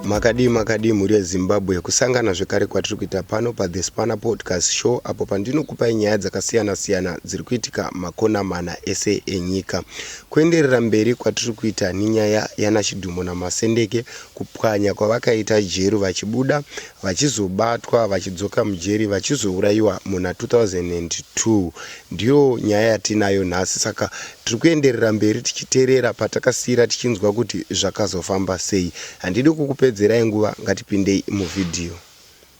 Makadii makadii mhuri yeZimbabwe, kusangana zvekare kwatiri kuita pano paThe Spanner Podcast Show apo pandinokupai nyaya dzakasiyana siyana dziri kuitika makona mana ese enyika. Kuenderera mberi kwatiri kuita nenyaya yanaChidhumo naMasendeke, kupwanya kwavakaita jeri vachibuda, vachizobatwa, vachidzoka mujeri, vachizourayiwa muna 2002 Ndiyo nyaya yatiinayo nhasi saka tiri kuenderera mberi tichiterera patakasiira tichinzwa kuti zvakazofamba sei. Handidi kukupedzerai nguva ngatipindei muvhidhiyo.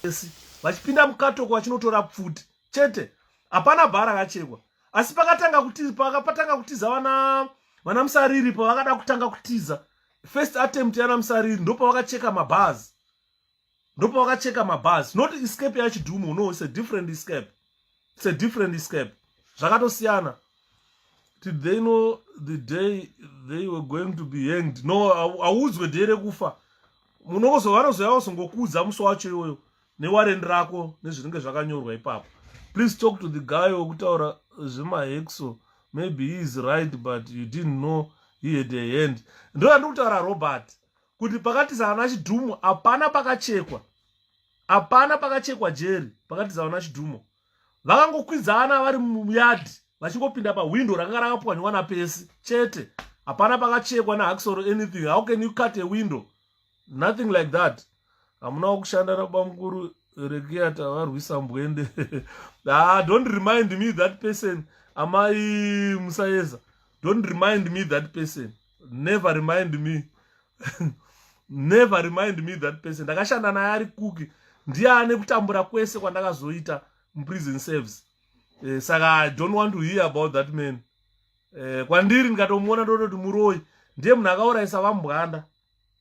Yes, vachipinda mukatoko vachinotora pfuti chete hapana bha rakachekwa asi pakatanga kutiza pakatanga kutiza vana vana musariri pavakada kutanga kutiza first attempt yana musariri ndopavakacheka mabhazi ndopa vakacheka mabhazi not escape yachidumo no it's a different escape it's a different escape zvakatosiyana did they know the day they were going to be hanged no hauudzwe day rekufa munozovanozoyava songokuudza musi wacho iwoyo newarendi rako nezvinenge zvakanyorwa ipapo please talk to the guy wekutaura zvemahexo maybe he is right but you didn't know he had a hand ndoyandikutaura robert kuti pakati zaana chidhumo hapana pakachekwa hapana pakachekwa jeri pakati zaana chidhumo vakangokwidzana vari muyadhi vachingopinda pahwindo rakanga rakapwanywa napesi chete hapana pakachekwa nahakisoro anything how can you cut a window nothing like that hamunawo kushanda nabamukuru rekiyata varwisa mbwende ah, don't remind me that person amai musayeza don't remind me that person never remind me never remind me that person ndakashanda naye ari kuki ndiye ane kutambura kwese kwandakazoita muprison service eh, saka i don't want to hear about that man eh, kwandiri ndikatomuona ndototi muroi ndiye munhu akaurayisa vambwanda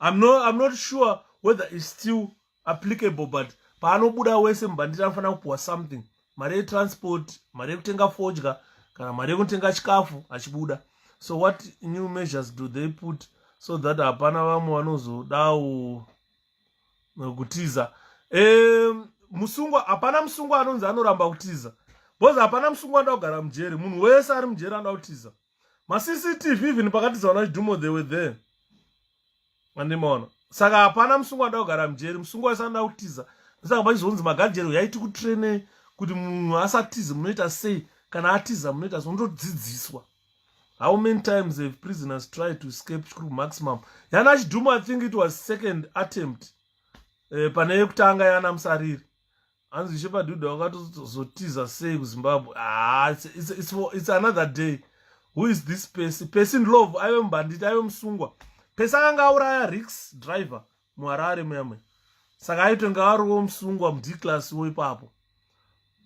I'm not, I'm not sure whether it's still applicable but paanobuda wese mubhanditi anofanira kupuwa something mari yetransport mari yekutenga fodya kana mari yekutenga chikafu achibuda so what new measures do they put so that hapana vamwe vanozodawo eh, kutiza um, musungwa hapana musungwa anonzi anoramba kutiza bcause hapana musungwa anoda kugara mujeri munhu wese ari mujeri anoda kutiza macctv even pakatiza vana chidhumo they were there andimaona saka hapana musungwa anoda kugara mujeri musungwa wese anoda kutiza ndosaka pachizonzi magajeri uyai tikutrainei kuti munhu asatize munoita sei kana atiza munoita sei unotodzidziswa how many times have prisoners tried to escape chikuru maximum yana chidhumo i think it was second attempt eh, pane yekutanga yana musariri hanzi shepadhuda wakatozotiza sei kuzimbabwe haa ah, it's, it's, it's another day who is this pesi pesi ndlove aive mubhanditi aive musungwa pesi akanga auraya rix driver muharare muyamwe saka aitonge ariwo musungwa mudclass wo ipapo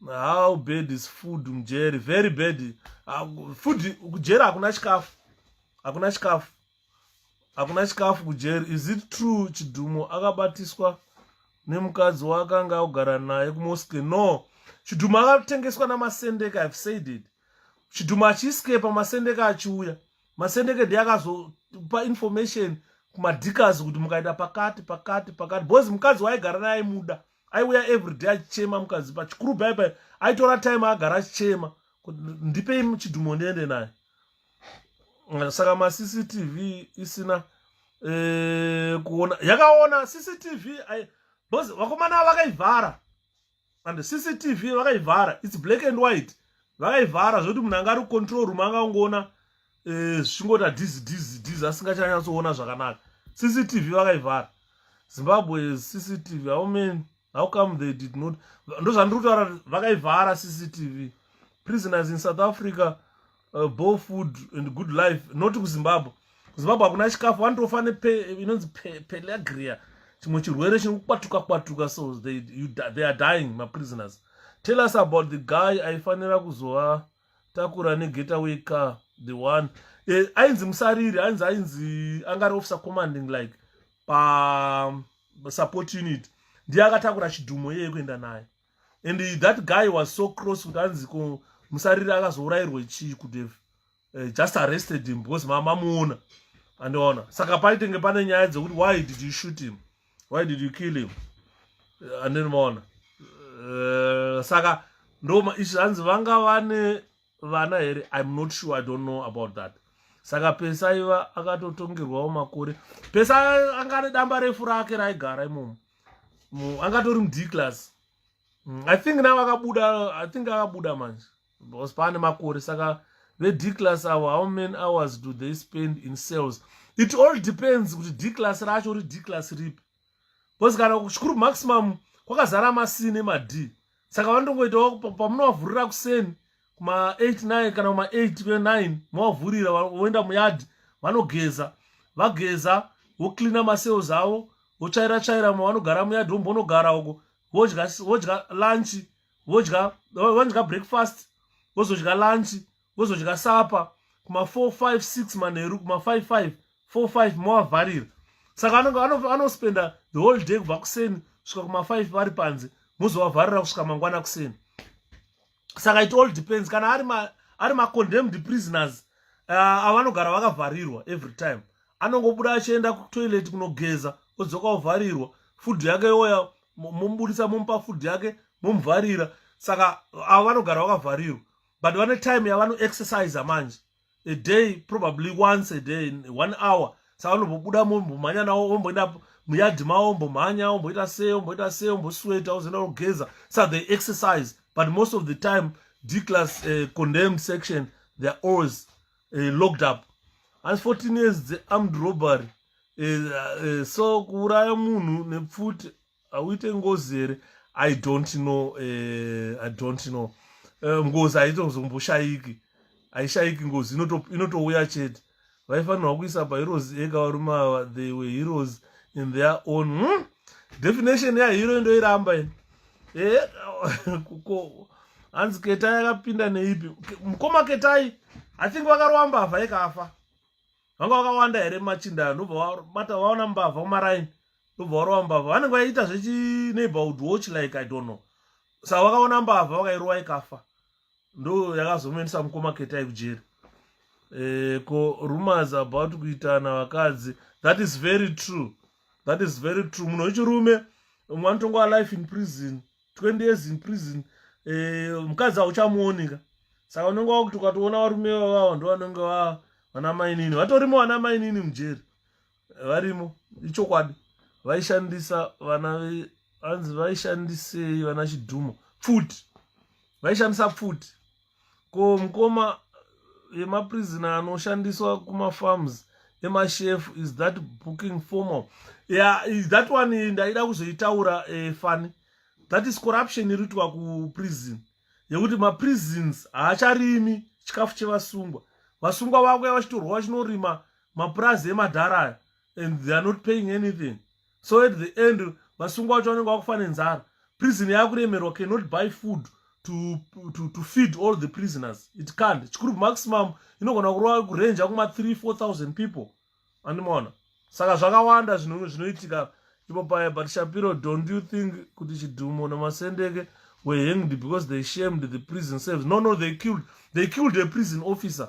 how bad is food mujeri very bad ah, food kujeri hakuna chikafu hakuna chikafu hakuna chikafu kujeri is it true chidhumo akabatiswa nemukadzi waakanga akugara naye kumosque no chidhumo akatengeswa namasendeka have said it chidhumo achiiskepa masendeka achiuya masendeke ndiye akazopa information kumadhikazi kuti mukaita pakati pakati pakati bcoz mukadzi waaigara naye aimuda aiuya everyday achichema mukadzi pachikuru baibai aitora time agara achichema ndipei chidhumo ndiende naye eh, saka macctv isina eh, kuona yakaona cctv because vakomana vakaivhara and cctv vakaivhara its black and white vakaivhara zvokuti munhu anga ari kucontrol room anga ungoona eh, zvichingoita dizi dizi dizi asingachanyatsoona zvakanaka cctv vakaivhara zimbabwe cctv aumeni how come they did not ndozvandiri kutaura vakaivhara cctv prisoners in south africa uh, bo food and good life not kuzimbabwe kuzimbabwe hakuna chikafu vanotofa neinonzi pelagria chimwe chirwere chiri kukwatuka kwatuka so they, you, they are dying maprisoners tell us about the guy aifanira kuzova takura negetaway car the one eh, ainzi musariri ainzi ainzi angari officer commanding like pa support unit ndiye akatakura chidhumo yeye kuenda naye and that guy was so cross kuti anzi ko musariri akazourayirwe chii kudeve uh, eh, just arrested him because mama muona andiona saka paitenge pane nyaya dzekuti why did you shoot him why did you kill him eh, andini maona eh, saka ndoma izvi zvanzi vanga vane vana here im not sure i don't know about that saka pesa iva akatotongerwawo makore pesa anga ane damba refu rake raigara imomo angatori mudclass mm, i think now akabuda i think akabuda manje because pane makore saka vedclass avo how many hours do they spend in cells it all depends kuti dclass racho uri dclass ripi because kana chikuru maximum kwakazara masii nemad saka vanongoitawo pamunovavhurira kuseni kuma 89 kana kuma 8 ve9 movavhurira voenda muyadhi vanogeza vageza vocleana macells avo votsvaira tsvaira mavanogara muyadhi vombonogara uko vodya vodya lunch vodya vanodya breakfast vozodya lunch vozodya sapa kuma 456 manheru kuma 55 45 movavharira saka anospenda the whole day kubva kuseni kusvika kuma 5 vari panze mozovavharira kusvika mangwana kuseni saka it all depends kana ari ma, ari macondemned prisoners uh, avanogara vakavharirwa every time anongobuda achienda kutoilet kunogeza odzoka ovharirwa food yake yoya momubudisa momupa food yake momuvharira saka avo vanogara vakavharirwa but vane time yavanoexercise manje a day probably once a day one hour saka vanombobuda mombomhanya nawo omboenda muyadhi mawo ombomhanya omboita sei omboita sei ombosweta ozoenda kugeza sa they exercise but most of the time dclass uh, eh, condemn section theyare always uh, locked up asi 14 years dzearmed robbery uh, uh, so kuuraya munhu nepfuti hauite ngozi here i don't know uh, i don't know uh, ngozi haitozomboshayiki haishayiki ngozi inotouya chete vaifanirwa kuisa paheroes ega varume ava they were heroes in their own hmm? definition yahero indoiramba ini eh, kuko hanzi ketai akapinda neipi mukoma ketai i think vakarowa mbavha yekafa vanga vakawanda here machinda anobva vabata vaona mbavha kumaraini ndobva varowa mbavha vanenge vaiita zvechi neighborhood watch like i don't know sa vakaona mbavha vakairowa ikafa ndo yakazomuendesa mukoma ketai kujeri e, ko rumors about kuitana vakadzi that is very true that is very true munhu wechirume umwe anotongoa life in prison 20 years in prison e, mukadzi hauchamuonika saka unenge wakuti ukatoona varume vavavo ndo vanenge vana mainini vatorimo vana mainini mujeri varimo ichokwadi vaishandisa vana vanzi vaishandisei vana chidhumo pfuti vaishandisa pfuti ko mukoma yemaprizina anoshandiswa kumafarms emashef is that booking formal yeah, is that one ndaida kuzoitaura eh, fani that is corruption iri kuitwa kuprison yekuti maprisons haacharimi chikafu chevasungwa vasungwa vakuya vachitorwa vachinorima mapurazi emadhara aya and they are not paying anything so at the end vasungwa vacho vanenge vakufa nenzara prison yakuremerwa cannot buy food to, to, to feed all the prisoners it can't chikuru maximum inogona kurova kurenja kuma 3 4000 people andimaona saka zvakawanda zvinhu zvinoitika ipo paya but shapiro don't you think kuti chidhumo namasendeke were hanged because they shamed the prison service no no they killed they killed a prison officer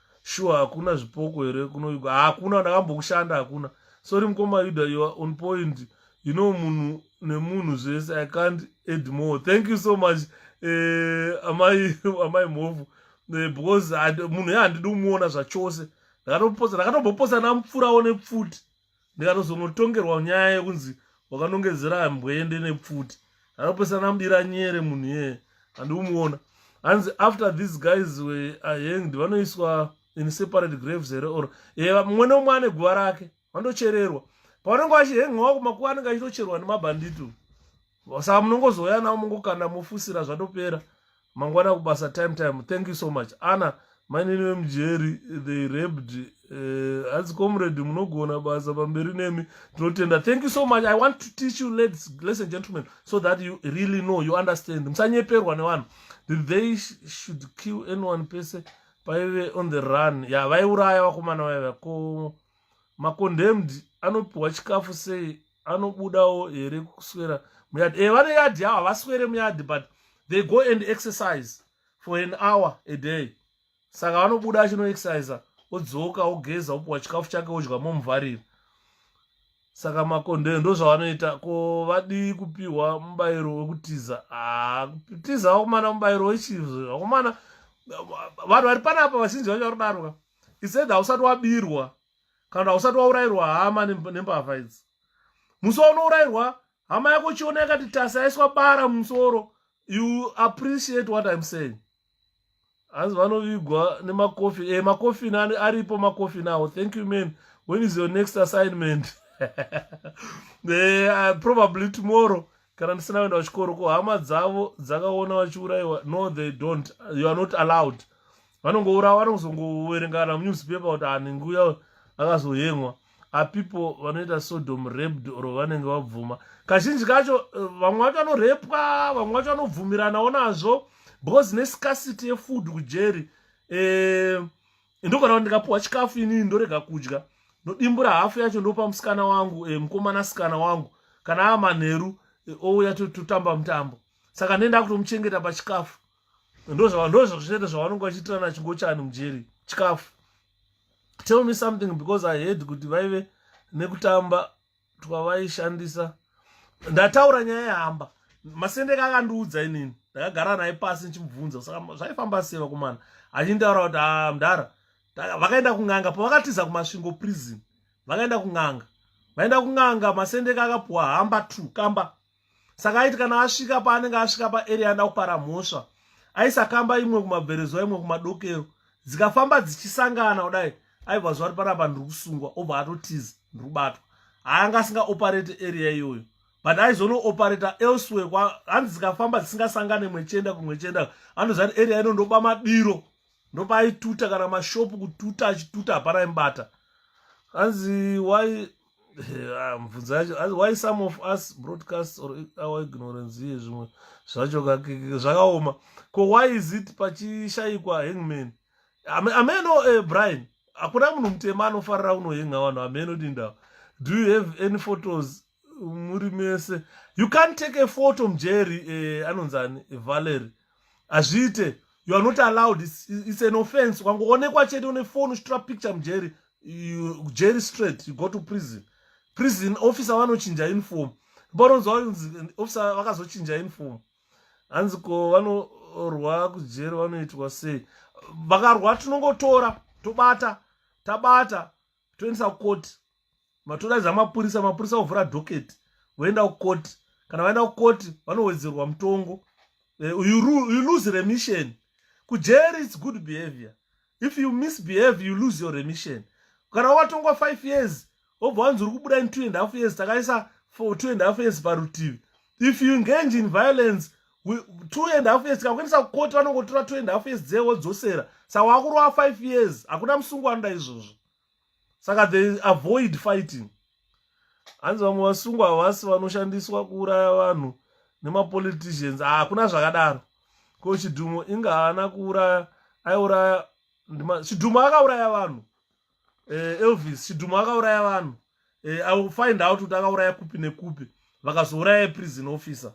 sure hakuna zvipoko here kunoyuga hakuna ndakambokushanda hakuna sorry mukoma yuda you are on point you know munhu nemunhu zvese i can't add more thank you so much eh, amai amai mhovu eh, because munhu ye handidi kumuona zvachose ndakatoposa ndakatomboposa namupfurawo nepfuti ndikatozonotongerwa nyaya yekunzi wakanongedzera mbwende nepfuti anopesana mudira nyere munhu yeye handiumuona hanzi after these guys were ahanged vanoiswa in separate graves here or e mumwe neumwe ane guva rake vandochererwa pavanenge vachihengawa kumakuva anenge achitocherwa nemabhandito saka munongozouya navo mongokanda mofusira zvatopera mangwana kubasa time time thank you so much ana mainini vemujeri they rabed eh, hanzi uh, comrade munogona basa pamberi nemi tinotenda thank you so much i want to teach you ladies lesson gentlemen so that you really know you understand musanyeperwa nevanhu they should kill anyone pese paive on the run ya yeah, vaiuraya vakomana vaiva ko macondemned anopiwa chikafu sei anobudawo here kuswera muyadhi e eh, vane yadhi yavo havaswere muyadhi but they go and exercise for an hour a day saka vanobuda achinoexercisa odzoka ogeza opiwa chikafu chake odya momuvharira saka makondee ndo zvavanoita ko vadii kupiwa mubayiro wekutiza ah, kutiza vakomana mubayiro wechizvo vakomana vanhu vari panapa vazhinji vacho varodarwa isaid hausati wabirwa kana usati waurairwa hama nembavha idzi musi waunourairwa hama yako chiona yakati tasi aiswa bara mumusoro you appreciate what im saying hanzi vanovigwa nemakofi e eh, makofini aripo makofini awo thank you man when is your next assignment e, uh, probably tomorrow kana ndisina kuenda kuchikoro ko hama dzavo dzakaona vachiurayiwa no they don't you are not allowed vanongourawa vanozongoverengana munewspaper kuti aninguya akazoyemwa apeople vanoita sodom raped or vanenge vabvuma kazhinji kacho eh, vamwe vacho vanorepwa vamwe vacho vanobvumiranawo nazvo because nescasity yefood kujeri um eh, ndogona kuti ndikapuwa chikafu inini ndorega kudya ndodimbura hafu yacho ndopa musikana wangu e, mukomana sikana wangu kana ava manheru e, ouya totamba mutambo saka ndenda kutomuchengeta pachikafu ndozvazvete zvavanonge vachiitirana chingochani mujeri chikafu tell me something because i heard kuti vaive nekutamba twavaishandisa ndataura nyaya yehamba masendeke akandiudza inini ndakagara naye pasi ndichimubvunza saka zvaifamba sei vakomana achindaura kuti a ah, mdara vakaenda kun'anga pavakatiza kumasvingo prison vakaenda kun'anga vaenda kun'anga masendeke akapuwa hamba two kamba saka aiti kana asvika paanenge asvika paarea anda kupara mhosva aisakamba imwe kumabverezwa imwe kumadokero dzikafamba dzichisangana kudai aibva zuva ri panapa ndiri kusungwa obva atotiza ndiri kubatwa haanga asingaoperate area iyoyo but aizonooperator elsewhere hanzi dzikafamba dzisingasangane imwe chienda kumwe chienda anoziva kuti area ino ndoba madiro ndopaaituta kana mashopu kututa achituta hapana imbata hanzi why Ah, mubvunzo yacho as why some of us broadcast or our ignorance iye zvimwe zvacho zvakaoma ko why is it pachishaikwa hangman ameno uh, eh, brian hakuna munhu mutema anofarira unohenga vanhu ameno dindawa do you have any photos muri mese you can't take a photo mjeri uh, eh, anonzani valery hazviite you are not allowed it's, it's an offense ukangoonekwa chete une foni uchitora picture mjeri you jail straight you go to prison prison officer vanochinja uniform paunonzwa kunzi officer vakazochinja uniform hanzi ko vanorwa kujeri vanoitwa sei vakarwa tinongotora tobata tabata toendesa kukoti matodaidza mapurisa mapurisa ovhura doketi voenda kukoti kana vaenda kukoti vanowedzerwa mutongo eh, you lose remission kujeri its good behavior if you misbehave you lose your remission kana watongwa five years wobva wanzi uri kubuda in two and half years takaisa for two and half years parutivi if you engage in violence two and half years tikakuendesa kukoti vanongotora two and half years dzee wodzosera sa wakurowa five years hakuna musungu anoda izvozvo saka they avoid fighting hanzi vamwe vasungwa havasi vanoshandiswa kuuraya vanhu nemapoliticians ah, hakuna zvakadaro ko chidhumo inga haana kuuraya aiuraya chidhumo akauraya vanhu eh, elvis chidhumo akauraya vanhu eh, i will find out kuti akauraya kupi nekupi vakazouraya prison officer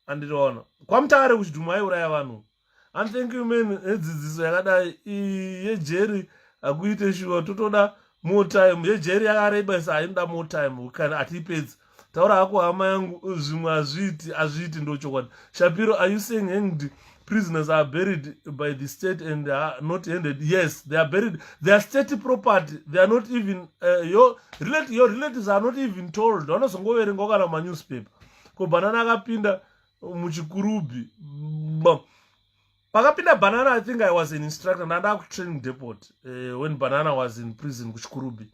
andiriona kwamutare kuchidhumu aiuraya vanhu and thank you man edzidziso yakadai yejeri hakuite shuwa totoda more time yejeri yakareba isa hainoda more time kana hatiipedzi taura hako hama yangu zvimwe hazviiti hazviiti ndochokwadi shapiro are you saying hanged prisoners are buried by the state and are not handed yes they are buried they are state property they are not even uh, your, relate, your relatives are not even told vanozongoverengawo kana manewspaper ko banana akapinda muchikurubhi pakapinda banana i think i was an instructor ndandava kutraining depot uh, when banana was in prison kuchikurubhi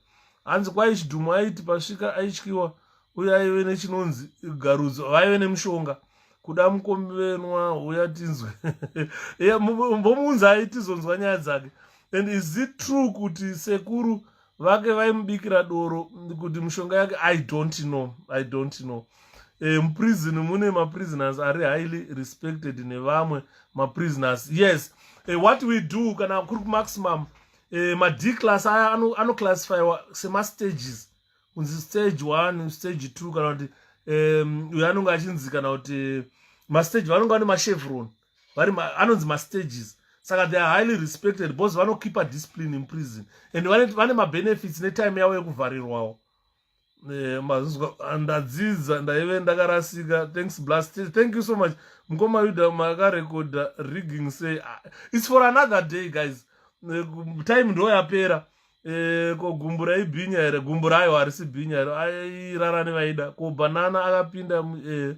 hanzi kwai chidhumu aiti pasvika aityiwa uye aive nechinonzi garudzo vaive nemushonga kuda mukombenwa uya tinzwe mbomuunza aitizonzwa nyaya dzake and is it true kuti sekuru vake vaimubikira doro kuti mushonga yake i don't know i don't know e, muprisn mune maprisoners ari highly respected nevamwe maprisoners yes e, what we do kana kuri kumaximum e, mad class aya anoclassifywa semastages kunzi stage one stage two kana kuti uyo anonge achinzi kana kuti mastage vanonge vane machevron vari anonzi mastages saka they are highly respected because vanokipa discipline in prison and vane mabenefits netime yavo yekuvharirwawo eh, mazvizwa ah, ndadzidza ndaive ndakarasika thanks blast thank you so much mukoma yuda makarekodha rigging say ah, its for another day guys eh, time ndo yapera Eh, ko gumbu raibhinya here gumbu rayo harisi bhinya here airarani vaida ko banana akapinda eh,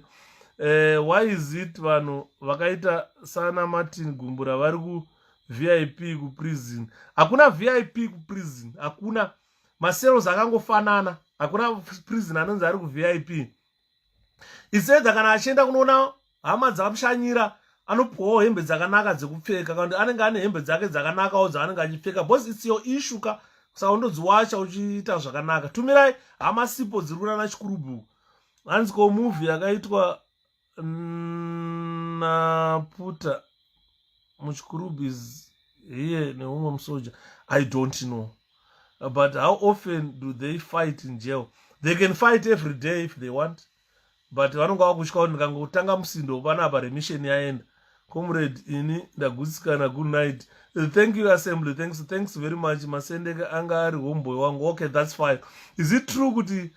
eh, why is it vanhu vakaita sana martin gumbura vari ku vip kuprison hakuna vip kuprison hakuna macells akangofanana hakuna prison anonzi ari kuvip isedza kana achienda kunoona hama dzamushanyira anopuwawo hembe dzakanaka dzekupfeka kana anenge ane hembe dzake dzakanakawo dzaanenge achipfeka bcause its your issue ka saka undodziwacha uchiita zvakanaka tumirai hama sipo dziri kunana chikurubu hanzi ko movie yakaitwa naputa mm, muchikurubu is here neumwe musoja i don't know but how often do they fight in jail they can fight every day if they want but vanonge vakutya kuti ndikangotanga musindo panapa remission yaenda comrade ini ndagutsikana good night thank you assembly thanks thanks very much masendeke anga ari homeboy wangu okay that's fine is it true kuti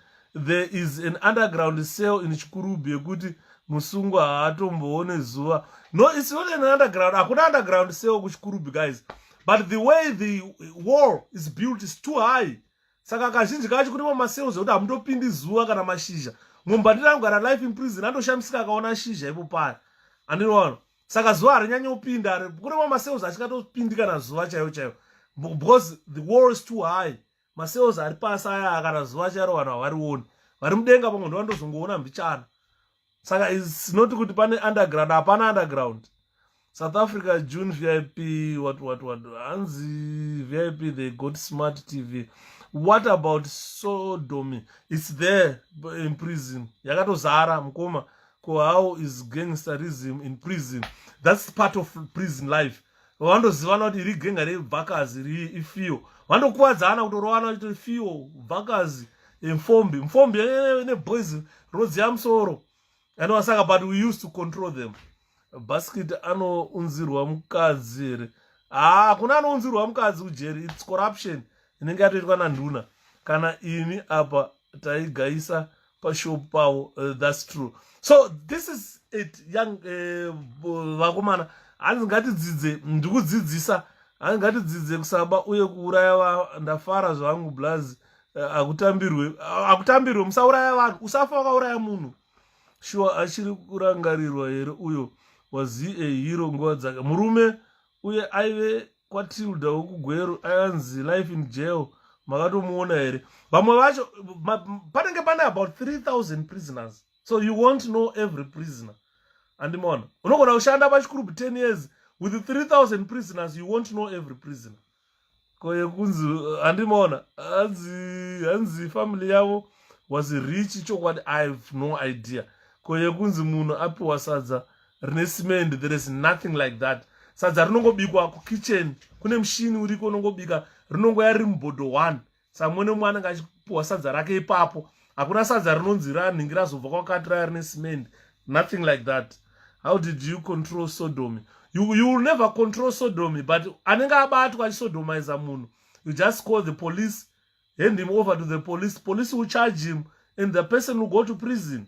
there is an underground cell in chikurubi yekuti musungwa haatomboone zuva no it's not an underground hakuna underground cell kuchikurubi guys but the way the wall is built is too high saka kazhinji kacho kune mamaseo zvekuti hamutopindi zuva kana mashizha mumbandira angu kana life imprison andoshamisika akaona shizha ipo paya andinoona saka zuva harinyanye kupinda kune mamaseos achikatopindi kana zuva chaiyo chaiyo because the war is too high macells ari pasi aya kana zuva charo vanhu havarioni vari mudenga pamwe ndova ndozongoona mbichana saka isinoti kuti pane underground hapana underground south africa june vip what what what hanzi vip they got smart tv what about sodomy its there in prison yakatozara mukoma ko how is gangsterism in prison that's part of prison life vandozivana kuti iri genga rebvakazi ri ifio vandokuvadzana kutorovana kuti ifio bvakazi mfombi mfombi ine boys rodzi yamusoro anova saka but we used to control them basket anounzirwa mukadzi here haa kuna anounzirwa mukadzi kujeri its corruption inenge yatoitwa nanduna kana ini apa taigaisa pashop pavo uh, thats true so this is it young eh, vakomana uh, hanzi ngatidzidze ndikudzidzisa hanzi ngatidzidze kusaba uye kuuraya va ndafara zvangu blaz uh, akutambirwe uh, akutambirwe musauraya vanhu usafa wakauraya munhu shuwa achiri kurangarirwa here uyo was he a hero nguva dzake murume uye aive kwatilda wekugweru ayanzi life in jail makatomuona here vamwe vacho panenge pane about 3000 prisoners so you wont know every prisoner andimona unogona kushanda pachikurubu 10 years with 3000 prisoners you wont know every prisoner kwaye kunzi handimaona hanzi hanzi family yavo was rich chokwadi i have no idea kwaye kunzi munhu apiwa sadza rine cement there is nothing like that sadza rinongobikwa kukitchen kune mushini uriko unongobika rinongoya riri mubhodho one samwene umwe anenge achipuwa sadza rake ipapo hakuna sadza rinonzi ranhingi razobva kwakati raya rine cement nothing like that how did you control sodomy you, you will never control sodomy but anenge abatwa achisodomiza munhu you just call the police hand him over to the police police will charge him and the person will go to prison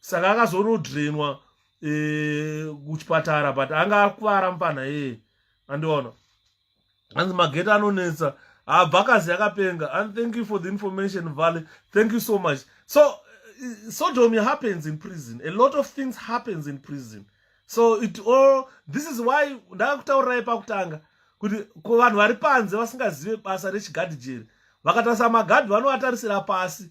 saka akazonodrenwa eh, kuchipatara but anga akuvara mupana yeye andiona hanzi magete anonetsa habva ah, akazi yakapenga and thank you for the information valley thank you so much so eh, sodomy happens in prison a lot of things happens in prison so it all this is why ndakakutaurirai pakutanga kuti ko vanhu vari panze vasingazive basa rechigadhi jeri vakatarisa magadhi vanovatarisira pasi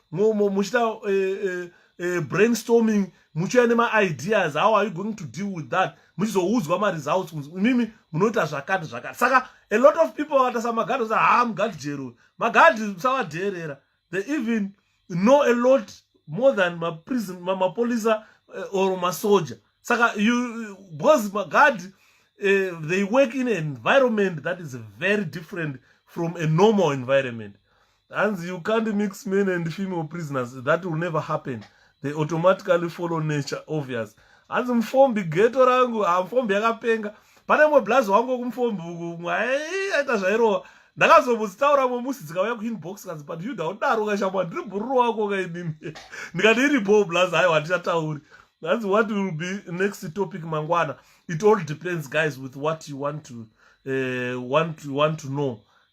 muchita eh, eh, eh, brainstorming muchiuya nemaideas how are you going to deal with that muchizoudzwa maresults imimi munoita zvakati zvakati saka a lot of people vakata samagadhi sa haa mugadhi jero magadhi musawadheerera they even know a lot more than maprison mapolisa eh, or masoja saka you because magadhi eh, they work in an environment that is very different from a normal environment hanzi you can't mix men and female prisoners that will never happen they automatically follow nature obvious hanzi mufombi geto rangu hamufombi ah, yakapenga pane mwe blaz wangu wekumufombi uku mwaita zvairova ndakazomuzitaura mwe musi dzikauya kuinbox kanzi but yuda udaro ukashamwa ndiri bhururu wako kainini ndikati iri bho blaz haiwa handichatauri hanzi what will be next topic mangwana it all depends guys with what you want to uh, want, want to know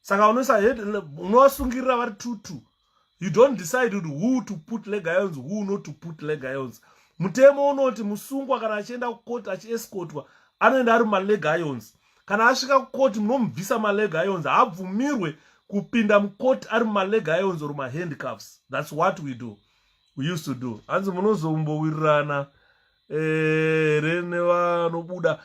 saka unoisa head unovasungirira vari two two you don't decide kuti who to put leg ions who not to put leg ions mutemo unoti musungwa kana achienda kukoti achiescotwa anoenda ari maleg ions kana asvika kukoti munomubvisa maleg ions haabvumirwe kupinda mukoti ari maleg ions or mahandcuffs thats what we do we used to do hanzi munozombowirirana here eh, nevanobuda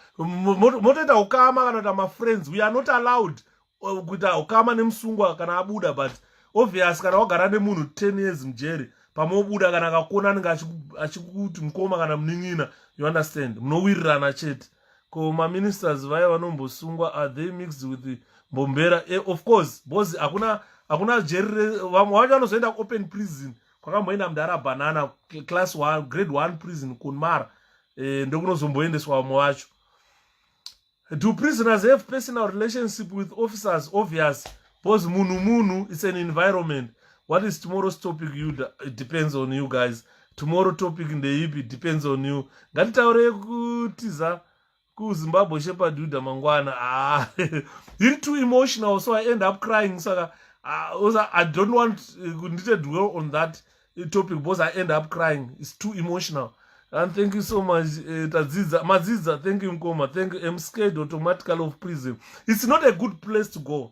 motoita ukama kana kuita mafriends we are not allowed uh, kuita ukama nemusungwa kana abuda but obvious kana wagara nemunhu 10 years mujeri pamwe obuda kana akakuona anenge achikuti mukoma kana munin'ina you understand munowirirana chete ko maministers vaye vanombosungwa are they mixed with the mbombera eh, of course bcause hakuna hakuna jeri vamwe vacho vanozoenda kuopen prison kwakamboenda mudhara banana class one, grade one prison kunmara e, ndokunozomboendeswa vamwe vacho do prisoners have personal relationship with officers obvious because munhu munhu it's an environment what is tomorrow's topic you it depends on you guys tomorrow topic ndeipi depends on you ngatitaure kutiza kuzimbabwe shepadhuda mangwana ah, him too emotional so i end up crying saka ah, also i don't want eh, kundite uh, dwell on that eh, topic because i end up crying its too emotional and thank you so much uh, tadzidza madzidza thank you mkoma thank you mscared automatically of prison it's not a good place to go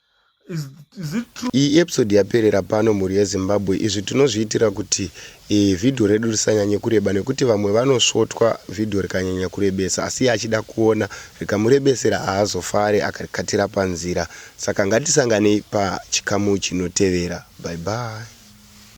Iyi episode yaperera pano mhuri yeZimbabwe izvi tinozviitira kuti e, video redu risanyanye kureba nekuti vamwe vanosvotwa video rikanyanya kurebesa asi achida kuona rikamurebesera haazofare akarikatira panzira saka ngatisanganei pachikamu chinotevera bye bye